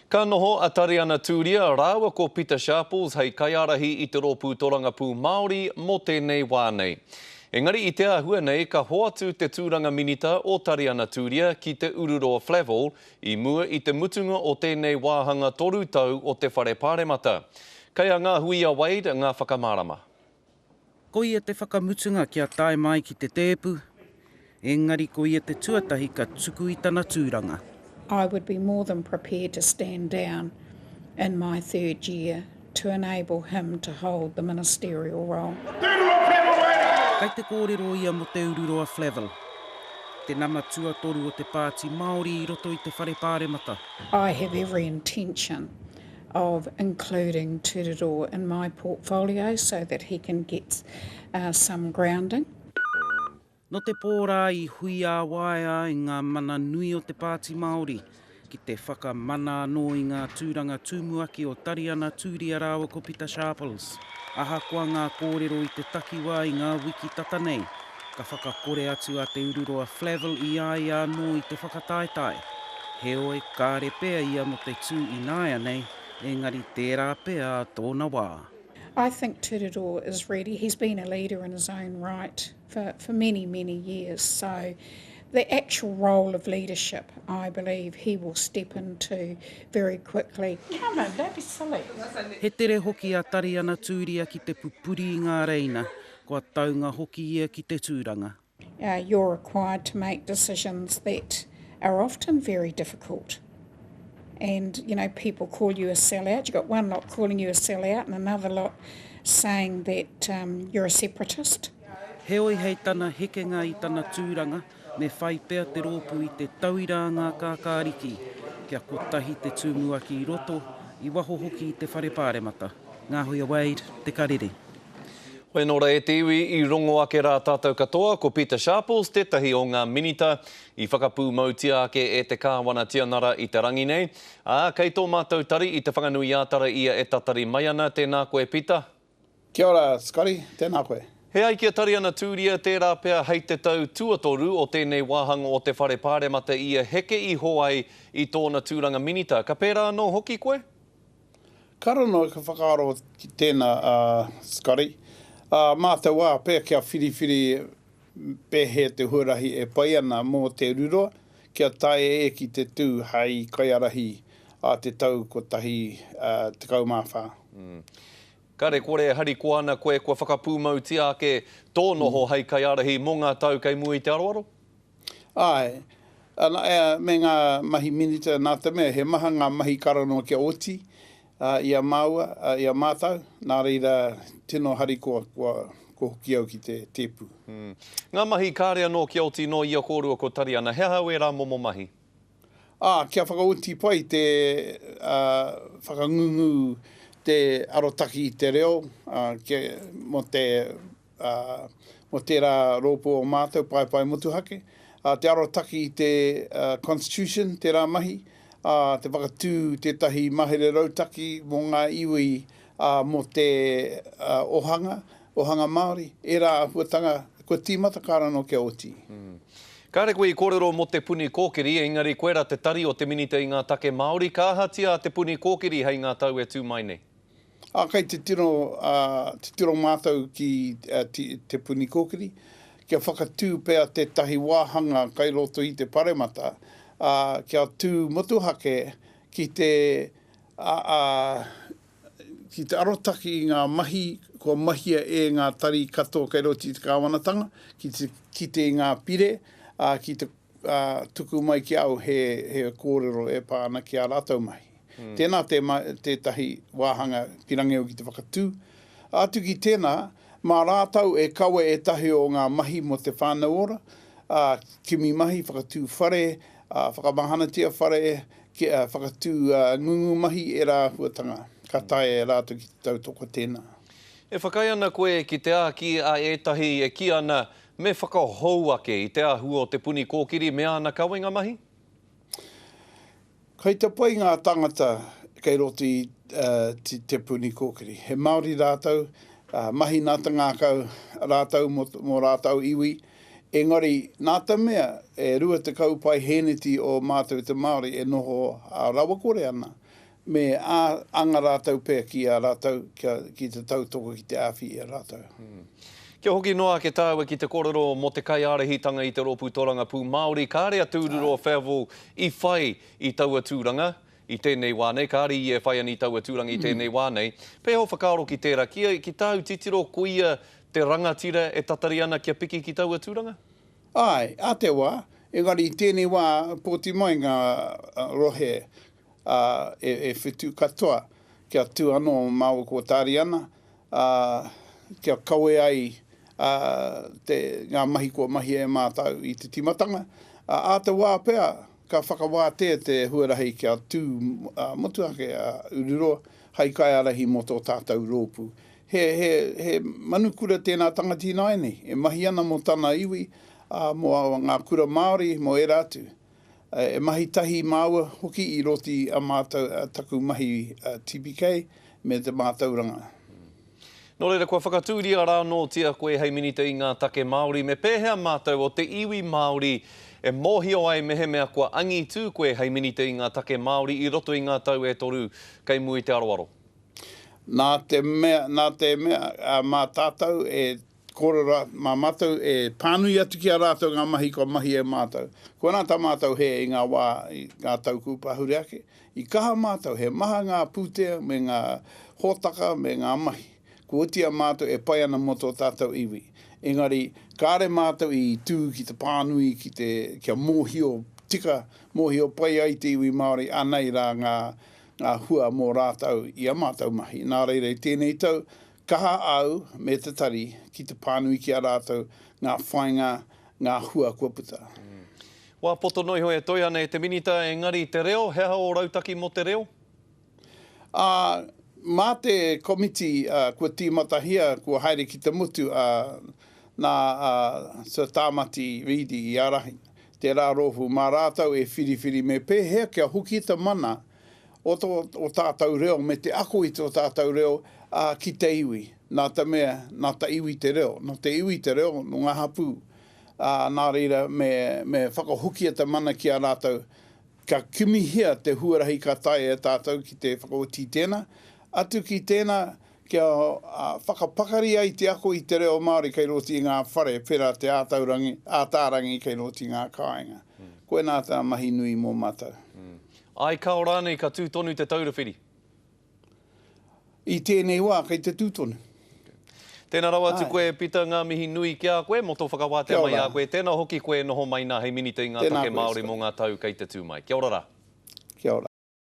Ka noho a Tariana Turia rāua ko Pita Sharples hei kaiārahi i te Rōpū Torangapū Māori mō tēnei wā nei. Engari i te āhua nei ka hoatu te tūranga minita o Tariana Turia ki Te Ururoa Flavell i mua i te mutunga o tēnei wāhanga toru tau o te Whare Pāremata. Kei a Ngahuia Wade ngā whakamārama. Ko ia te whakamutunga kia tae mai ki te tēpu, engari ko ia te tuatahi ka tuku i tana tūranga. I would be more than prepared to stand down in my third year to enable him to hold the ministerial role. Kai te kōrero ia mō Te Ururoa Flavell, te nama tuatoru o te Pāti Māori i roto i te Whare Pāremata. I have every intention of including Turirō in my portfolio so that he can get some grounding. Nō te pō rā i huiāwaea ai ngā mana nui o te Pāti Māori ki te whakamana anō i ngā tūranga tūmuaki o Tariana Tūria rāua ko Pita Sharples. Ahakoa ngā kōrero i te takiwā i ngā wiki tata nei, Ka whakakore atu a Te Ururoa Flavell i a ia anō i te whakataetae. Heoi, kāre pea ia mō te tū ināianei, engari tērā pea tōna wā. I think Tururu is ready, he's been a leader in his own right for for many many years, so the actual role of leadership I believe he will step into very quickly. No, no, don't be silly. He tere hoki a Tariana Tūria ki te pupuri i ngā reina, Kua taunga hoki ia ki te tūranga. You're required to make decisions that are often very difficult and you know people call you a sellout, you've got one lot calling you a sellout and another lot saying that you're a separatist. Heoi hei tana hekenga i tana tūranga. Me whai pea te rōpū i te tauira a ngā kākāriki kia kotahi te tumuaki i roto, i waho hoki i te Whare Pāremata. Ngāhoia Wade, Te Karere. Whai nō rā e te iwi i rongo ake rā tātou katoa, ko Pita Sharples tētahi o ngā minita i whakapūmautia ake e te Kāwana Tianara i te rangi nei, ā, kei tō mātou tari i Te Whanganui-ā-Tara ia e tatari mai ana, tēnā koe Pita. Kia ora, Scotty. Tēnā koe. E ai ki a Tariana Tūria, tērā pea hei te tau tuatoru o tēnei wāhanga o te Whare Pāremata ia heke iho ai i tōna tūranga minita. Ka pērā anō hoki koe? Ka rongo i ka whakaaro ki tēnā, a Scotty. Ā mātou wā pea kia whiriwhiri Pēhea te huarahi e pai ana mō Te Ruroa kia tae e ki te tū hai kaiarahi a te tau 1014? Kare kore e harikoa ana koe kua whakapūmautia ake tō noho hai kaiarahi mō ngā tau kei mua i te aroaro? Āe. Ana, me ngā mahi minita nā te mea he maha ngā mahi karanoa kia oti, i a māua, i a mātou, nā reira tino harikoa kua hoki au ki te tēpu. Ngā mahi kāre anō kia oti nō ia kōrua ko Tariana, he aha au ērā momo mahi? Kia whakaoti pai te whakangungu te arotaki i te reo mō te ā, mō tērā rōpū o mātou paepae motuhake, ā, te arotaki i te Constitution, tērā mahi, ā, te whakatū tētahi mahere rautaki mō ngā iwi, ā, mō te ohanga, ohanga Māori, ērā āhuatanga kua tīmata ka rano kia oti. Kāre koe i kōrero mō Te Puni Kōkiri, engari koe rā te tari o te Minita i ngā Take Māori, ka ahatia a Te Puni Kōkiri hei ngā tau e tū mai nei? Ā, kei te tino titiro mātou ki Te Puni Kōkiri kia whakatū pea tētahi wāhanga kai roto i te Paremata, ā, kia tū motuhake ki te ki te arotake i ngā mahi kua mahia e ngā tari katoa kai roto i te Kāwanatanga, ki te kite i ngā pire, ā, ki te ka tuku mai ki a au he kōrero e pā ana ki ā rātou mahi. Tēnā tētahi wāhanga ki Rangiau ki te whakatū. Atu ki tēnā, mā rātou e kawe ētahi o ngā mahi mō Te Whānau Ora, ā, kimi mahi, whakatū whare, ā, whakamahanatia whare, whakatū ngungu mahi, ērā āhuatanga ka taea e rātou ki te tautoko tēnā. E whakaae ana koe ki te āki a ētahi e kī ana Me whakahou ake i te āhua o Te Puni Kōkiri me āna kawenga mahi? Kei te pai ngā tāngata kei roto i Te Puni Kōkiri. He Māori rātou, mahi nā te ngākau rātou mō ō rātou iwi. Engari, nā te mea e 20 pae hēneti o mātou te Māori e noho rawakore ana, Me anga rātou pea ki a rātou, ki te tautoko, ki te āwhi i a rātou. Kia hoki noa ake tāua ki te kōrero mō te kaiārahitanga i te rōpū tōrangapū Māori, kāre a Tūruroa Fevil i whai i taua tūranga i tēnei wā nei, kāre ia e whai ana i taua tūranga i tēnei wā nei. Pēhea o whakaaro ki tērā, ki tāu titiro koia te rangatira e tatari ana kia piki ki taua tūranga? Āe, ā te wā, engari i tēnei wā pōti mai ngā rohe, ā, e whitu katoa, kia tū anō mā ōku tāri ana, ā, kia kawe ai ngā mahi kua mahia e mātau i te tīmatanga, ā, ā te wā pea ka whakawātea te huarahi kia tū motuhake a Ururoa hai kaiārahi mō tō tātau rōpū. He, he, he manu kura tēnā tangati ināianei e mahi ana mō tana iwi, ā, mō ngā kura Māori, mō ērā atu. E mahi tahi māua hoki i roti a mātou taku mahi TPK me te mātauranga. Nō reira, kua whakatūria rānōtia koe hei Minita i ngā Take Māori, me pēhea mātou o te iwi Māori e mōhio ai mehemea kua angitū koe hei Minita i ngā Take Māori i roto i ngā tau e toru kei mua i te aroaro? Nā te mea, nā te mea, mā tātou e Kore ra, ma matou e panui atu ki a ratou nga mahi kua mahi e matou. Kua na ta matou he i nga wa i nga tau kupahure ake, i kaha matou, he maha nga putea me nga hotaka me nga mahi. Kua oti a matou e pai ana mo to tatou iwi. Engari, kare matou i tu ki te panui ki te, kia mohio tika, mohio pai ai te iwi Maori anei ra nga, nga hua mo ratou i a matou mahi. Na reira i tenei tau, Kaha au me te tari ki te pānui ki a rātou ngā whainga, ngā hua kua puta. Wā poto noiho e toe ana e te Minita engari te reo, he aha ō rautaki mō te reo? Ā, mā te komiti kua tīmatahia, kua haere ki te motu nā Sir Tāmati Reedy i ārahi, tērā rōpū, mā rātou e whiriwhiri me pēhea kia hoki te mana o tō tātou reo me te ako i tō tātou reo ki te iwi. Nā te mea, nā te iwi te reo, nō te iwi te reo, nō ngā hapū, nā reira me whakahokia te mana ki a rātou, ka kimihia te huarahi ka taea e tātou ki te whakaoti i tēnā, atu ki tēnā kia whakapakari ai te ako i te reo Māori kei roti i ngā whare, pērā te ātaarangi kei roti i ngā kāinga. Koinā tā mahi nui mō mātou. Ai kao rānei ka tū tonu te taura whiri? I tēnei wā kei te tū tonu. Tēnā rawa atu koe Pita, ngā mihi nui ki a koe mō tō whakawātea mai i a koe, tēnā hoki koe e noho mai nā hei Minita i ngā Take Māori mō ngā tau kei te tū mai. Kia ora rā.